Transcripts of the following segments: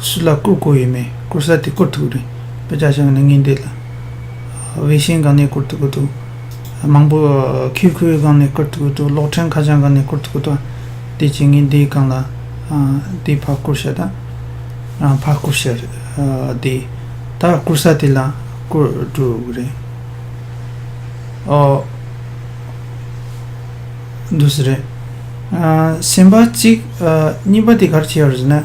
ཕྱི་ལ་བསྐུར་དགོས་ཡོད་མེད་བསྐུར་ས་དེ་བསྐུར་ཐུབ་རེད་དཔེ་ཆ་ཞིག་ནི་ངས་འདས་ལ་དབྱི་གཞིན་སྒང་ནས་བསྐུར་ཐུབ་ཀྱི་འདུག་མང་པོ་ཁི་ཁུའེ་སྒང་ནས་བསྐུར་ཐུབ་ཀྱི་འདུག་གློག་འཕྲེང་ཁ་བྱང་སྒང་ནས་བསྐུར་ཐུབ་ཀྱི་འདུག་དེ་བྱས་ངས་འདིའི་སྒང་ལ་དེའི་ཕ་བསྐུར་ཤ་དང་རང་ཕ་བསྐུར་ཤ་རེད་དེ་ད་བསྐུར་ས་དེ་ལ་བསྐུར་འགྲོ་གི་རེད་ཨོ། འདུག་ས་རེད་སེམས་པ་གཅིག་གཉིས་པ་དེ་ག་རེ་བྱས་ཡོད་རེད་ཟེར་ན།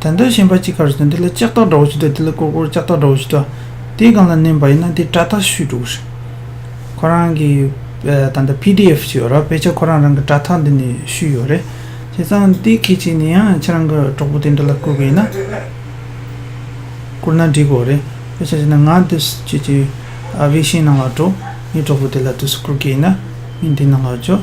དོན་དུ་ཤེས་པ་ཅི་གར་སོན་དེ་ལ་ལྕགས་ཐག་འདྲ་བོ་ཞིག་དང་དེ་ལ་ཀོར་ཀོར་ལྕགས་ཐག་འདྲ་བོ་ཞིག་དང་དེ་གང་ལ་མནན་པ་ཡིན་ན་དེ་སྐྲ་ཐག་ཤུད་འགྲོ་གི་རེད། ཁོ་རང་གི་ད་ལྟ་བྷི་ཏི་ཨེཕ་ཞིག་ཡོད་ར་བས་ཆ་ཁོ་རང་རང་གི་སྐྲ་ཐག་འདི་ནས་ཤུད་ཡོད་རེད། བྱས་ཙང་དེ་གལ་ཆེ་ནི་ཡང་ཁྱེད་རང་གི་གྲོགས་པོ་དེ་འདྲ་ལ་བསྐུར་གི་ཡིན་ན། བསྐུར་ན་འགྲིག་གོ་རེད། བས་ཆ་བྱས་ན་ང་དུས་སུ་ཁྱེད་ཀྱི་བྷི་ཤེའི་ནང་ལ་འགྲོ། ངའི་གྲོགས་པོ་དེ་ལ་དུས་སུ་བསྐུར་གི་ཡིན་ན་ངས་དེའི་ནང་ལ་འཇོག།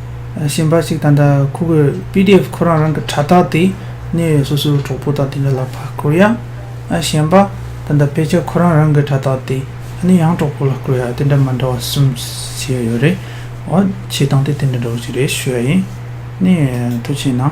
གཞན་པ་ཞིག་དང་འདྲ་ཁོ་གོས pdf ཁོ་རང་རང་གི་དྲ་ཐག་དེ་ནས་སོ་སོའི་གྲོགས་པོ་དང་དེ་འདྲ་ལ་ཕར་བསྐུར་ཡ། གཞན་པ་དང་འདྲ་དཔེ་ཆ་ཁོ་རང་རང་གི་དྲ་ཐག་དེ་ནས་ཡང་གྲོགས་པོ་ལ་བསྐུར་ཡ་དེ་འདྲ་མ་འདྲ་བ་གསུམ་བྱས་ཡོད་རེད། འོ་བྱེད་སྟངས་དེ་དེ་འདྲ་འདྲ་བོ་ཞིག་རེད་ཤོད་ཡིན། ནས་ཐུགས་ཆེ་གནང།